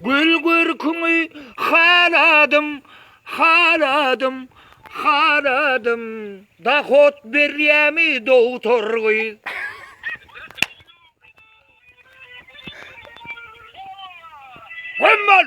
Gül görküňi haladym, haladym, haladym, Dahot berýämi dogtor gyz? Gümman!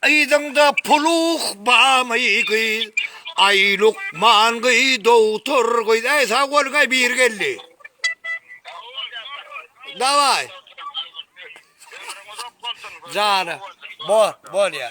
Yzyňda puluh bamy gyz Aý lukman gyz dogtor gyz Aý sag boluň aý biri geldi. Daway. Jana. Bor, bor ya.